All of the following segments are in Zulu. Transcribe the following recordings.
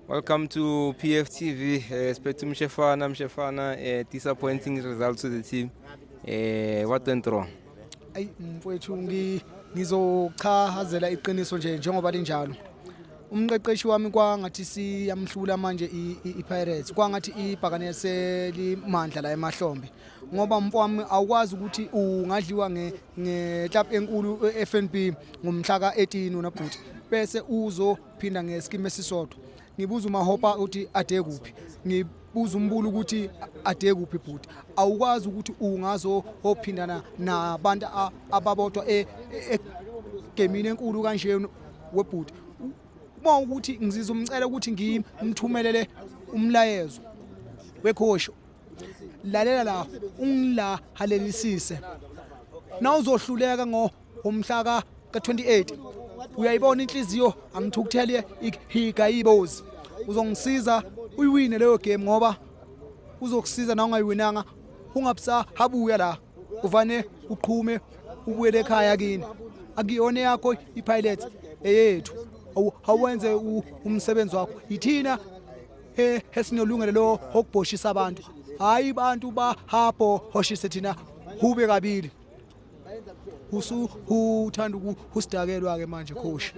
Welcome to PFTV. Uh, eh, Spetu Mshefana, Mshefana, uh, disappointing results to the team. Uh, what went wrong? Ayi mfowethu ngi ngizochazela iqiniso nje njengoba linjalo. Umqeqeshi wami kwangathi siyamhlula manje iPirates. Kwangathi ibhakane selimandla la emahlombe. Ngoba mfowami awukwazi ukuthi ungadliwa nge nge club enkulu eFNB ngomhla ka18 unabhuti. bese uzo phinda ngesikimi esisodwa ngibuza umahopa ukuthi ade kuphi ngibuza umbulu ukuthi ade kuphi bhuti awukwazi ukuthi ungazo ophindana nabantu ababodwa e, e, e, egemini enkulu kanje webhuti uma ukuthi ngizizwa umcela ukuthi ngimthumelele umlayezo wekhosho lalela la ungilahalelisise nawuzohluleka ngo umhla ka ka-28 uyayibona inhliziyo angithukuthele ihiga ibozi uzongisiza uyiwine leyo game ngoba uzokusiza na ungayiwinanga ungabusahabuya la uvane uqhume ubuyele ekhaya kini akuyona yakho ipilot eyethu awenze umsebenzi wakho yithina esinolungelo lo okubhoshisa abantu hayi bantu bahabho hoshise thina hube kabili usu uthanda ukusidakelwa ke manje coach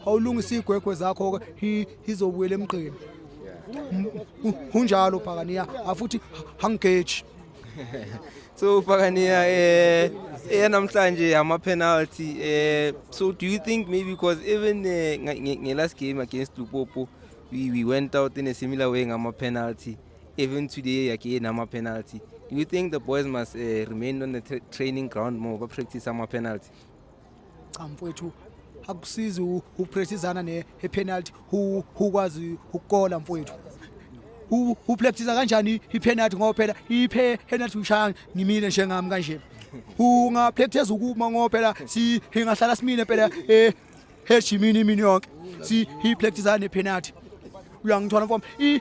awulungisa igwegwe zakho ke izobuyela emgqini kunjalo phakaniya afuthi hangeji so phakaniya eh namhlanje ama penalty eh so do you think maybe because even eh, nge last game against Lupopo we, we went out in a similar way ngama penalty Even today yake nama penalty. Do you think the boys must uh, remain on the tra training ground more ba practice ama penalty? Cha mfowethu akusizi ukupracticeana ne penalty ukwazi ukukola mfowethu. Upractice kanjani ipenalty ngoba phela ipenalty ushaya ngimile njengami kanje. Ungapractice ukuma ngoba phela si ingahlala simile phela eh heshimini imini yonke. Si ipracticeana ne penalty. Uyangithola mfowethu.